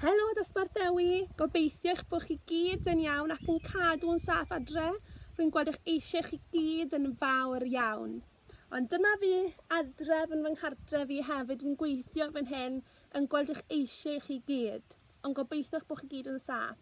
Helo Dosbarth Dewi, gobeithio eich bod chi gyd yn iawn ac yn cadw'n saff adre, rwy'n gweld eich eisiau chi gyd yn fawr iawn. Ond dyma fi adref yn fy nghartref i hefyd yn gweithio fan hyn yn gweld eich eisiau chi gyd, ond gobeithio eich bod chi gyd yn saff.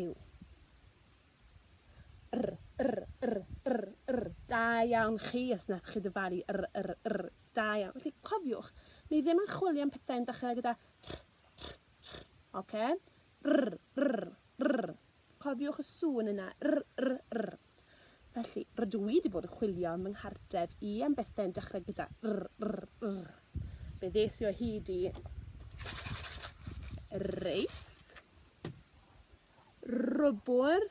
yw. Yr, yr, yr, yr, yr. Da iawn chi os nath chi dyfalu yr, yr, yr. Da iawn. Felly, cofiwch, ni ddim yn chwilio am pethau'n dechrau gyda rh, rh, rh. Oce? R, r, r. Cofiwch y sŵn yna. R, r, r. Felly, rydw i wedi bod yn chwilio ym mhenghardref i am bethau'n dechrau gyda r, r, r. Fe ddes i o hyd i reis. rwbwr,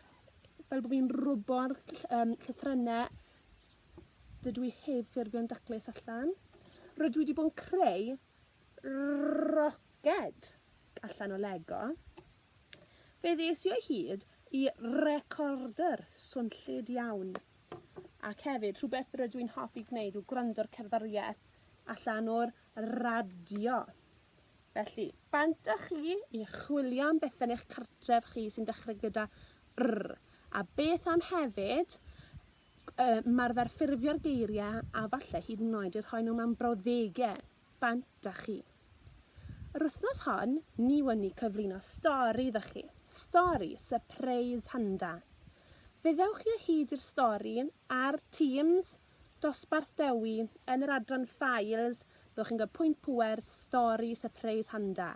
fel bod fi'n rwbo'r um, llythrennau dydw i heb ffurfio'n daclus allan. Rydw i wedi bod yn creu roced allan o Lego. Fe ddes i o hyd i recorder swnllyd iawn. Ac hefyd, rhywbeth rydw i'n hoffi gwneud yw gwrando'r cerddoriaeth allan o'r radio. Felly, pan dych chi i chwilio am bethe yn eich cartref chi sy'n dechrau gyda R, a beth am hefyd ymarfer ffurfio'r geiriau a falle hyd yn oed eu rhoi nhw mewn brawddegau, pan dych chi. Yr wythnos hon, ni wn i cyflwyno stori iddo chi, stori sypreis handa. Fe ddewch chi o hyd i'r stori ar Teams Dosbarth Dewi, yn yr adran Ffiles, byddwch chi'n cael pwynt pŵer, stori, sypreis handa.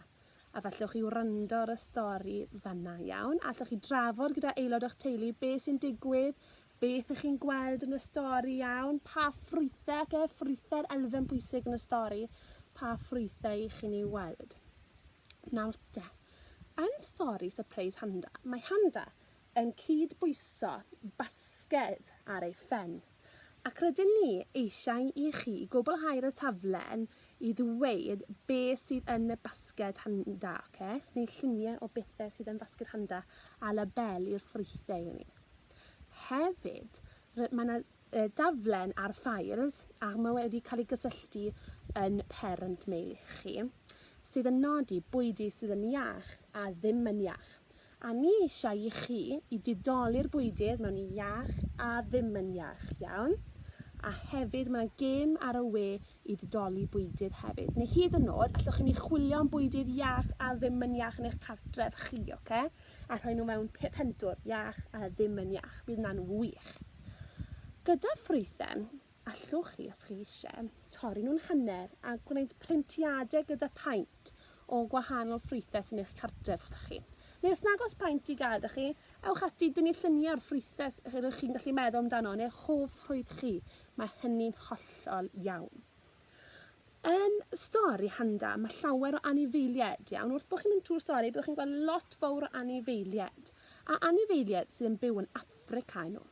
A f'allwch chi wrando ar y stori fan'na, iawn? Allwch chi drafod gyda aelod o'ch teulu beth sy'n digwydd, beth ych chi'n gweld yn y stori, iawn? Pa ffrwythau, oce, ffrwythau'r elfen bwysig yn y stori, pa ffrwythau y'ch chi'n eu weld. Nawr te, yn stori sypreis handa, mae handa yn cyd-bwyso basged ar ei phen, ac rydyn ni eisiau i chi gwblhau ar y taflen i ddweud be sydd yn y basged handa, oce? Neu lluniau o bethau sydd yn fasged handa a labeli'r ffrwythau i ni. Hefyd, mae yna Y daflen ar Fires, a mae wedi cael ei gysylltu yn Parent Me i chi, sydd yn nodi bwydy sydd yn iach a ddim yn iach. A ni eisiau i chi i didoli'r bwydydd mewn i iach a ddim yn iach, iawn? A hefyd mae 'na gêm ar y we i ddidoli bwydydd hefyd. Neu hyd yn nod, allwch chi mynd i chwilio am bwydydd iach a ddim yn iach yn eich cartref chi, ocê? a rhoi nhw mewn pentwr iach a ddim yn iach, bydd hwnna'n wych. Gyda ffrwythen, allwch chi, os chi eisiau, torri nhw'n hanner a gwneud printiadau gyda paent o gwahanol ffrwythau sy'n eich cartref gyda chi. Neu os nag oes paent i gael da chi, ewch ati dynnu lluniau o'r ffrwythau rydych chi'n gallu meddwl amdano neu'ch hoff ffrwyth chi, mae hynny'n hollol iawn. Yn stori Handa, mae llawer o anifeiliaid, iawn? Wrth bod chi'n mynd trwy'r stori, byddwch chi'n gweld lot fawr o anifeiliaid, a anifeiliaid sydd yn byw yn Affrica yno.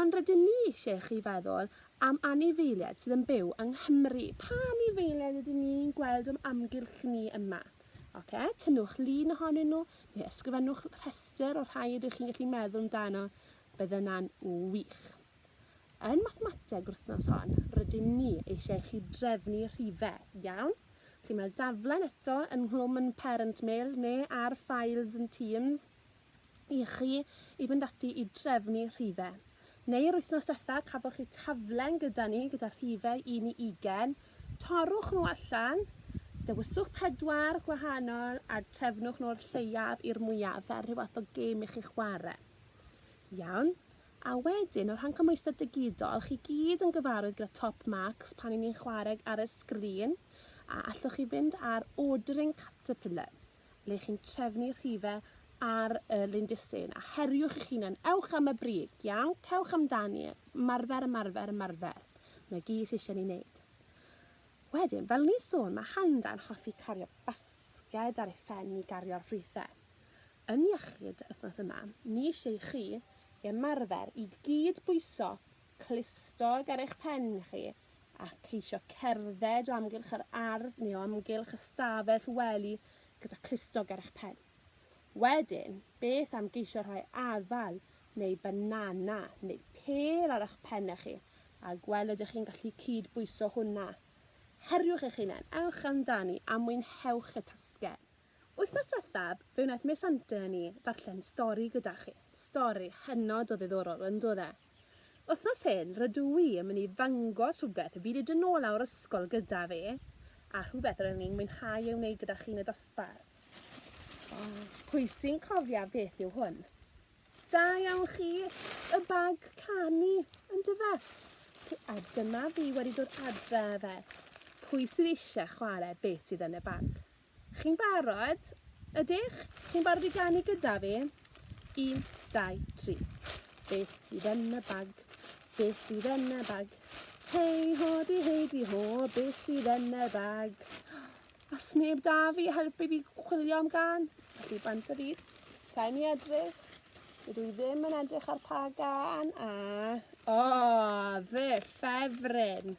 Ond rydyn ni eisiau i chi feddwl am anifeiliaid sydd yn byw yng Nghymru. Pa anifeiliaid ydyn ni'n gweld o'm amgylch ni yma? Oce, tynnwch lun ohonyn nhw, neu ysgrifennwch rhestr o'r rhai ydych chi'n gallu meddwl amdano, bydd yna'n wych. Yn mathemateg yr wythnos hon, rydyn ni eisiau i chi drefnu rhifau, iawn? Felly mae'r daflen eto yn nghlwm yn Parent Mail neu ar Files yn Teams i chi i fynd ati i drefnu rhifau. Neu yr wythnos diwetha cafoch chi taflen gyda ni gyda rhifau 1 i 20, torrwch nhw allan, dewyswch pedwar gwahanol a trefnwch nhw o'r lleiaf i'r mwyaf fel rhyw fath o gêm i chi chwarae. Iawn? A wedyn, o rhan cymhwyster digidol, chi gyd yn gyfarwydd gyda Top Marks pan y'n ni'n chwareg ar y sgrin, a allwch chi fynd ar Ordering Caterpillar, le chi'n trefnu rhife ar y lindysyn, a heriwch eich hunan, ewch am y brig, iawn, cewch amdani, ymarfer, ymarfer, ymarfer. Na gyd sydd eisiau ni wneud. Wedyn, fel ni'n sôn, mae Handa'n hoffi cario basged ar ei phen i gario'r rhife. Yn iechyd yr wythnos yma, ni eisiau i chi ymarfer i gyd bwyso clustog ar eich pen chi a cheisio cerdded o amgylch yr ardd neu o amgylch ystafell wely gyda clustog ar eich pen. Wedyn, beth am geisio rhoi afal neu banana neu pêl ar eich pennau chi a gweld ydych chi'n gallu cyd-bwyso hwnna? Heriwch eich hunain, ewch amdani a mwynhewch y tasged! Wythnos diwethaf, fe wnaeth Miss Hunter a ni ddarllen stori gyda chi. Stori hynod o ddiddorol, yn doedd e? Wythnos hyn, rydw i yn mynd i ddangos rhywbeth fi 'di dod nôl â'r ysgol gyda fi, a rhywbeth rydyn ni'n mwynhau ei wneud gyda chi yn y dosbarth. Pwy sy'n cofio beth yw hwn? Da iawn chi! Y bag canu, yndyfe? A dyma fi wedi dod adre â fe. Pwy sydd eisiau chwarae beth sydd yn y bag? Chi'n barod? Ydych? Chi'n barod i ganu gyda fi? Un, dau, tri. Beth sydd yn y bag? Beth sydd yn y bag? Hei ho di hei di ho, beth sydd yn y bag? A sneb da fi helpu fi chwilio am gan? Felly bant y byd. Sa'i mi edrych. Dydw i ddim yn edrych ar pa gan a... O, oh, dde ffefryn.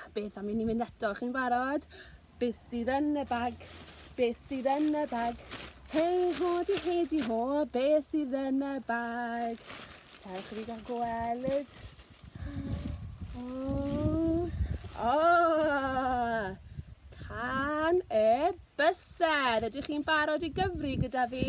A beth am i ni mynd eto? Chi'n barod? Beth sydd yn y bag? Beth sydd yn y bag? Hei ho di hei di ho, beth sydd yn y bag? Cerwch i fi gael gweld. O! O! Can y bysedd. Ydych chi'n barod i gyfri gyda fi?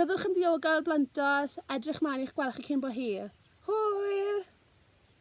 Byddwch yn ddiogel blant os edrych mlaen i'ch gweld chi cyn bo hir. Hwyl!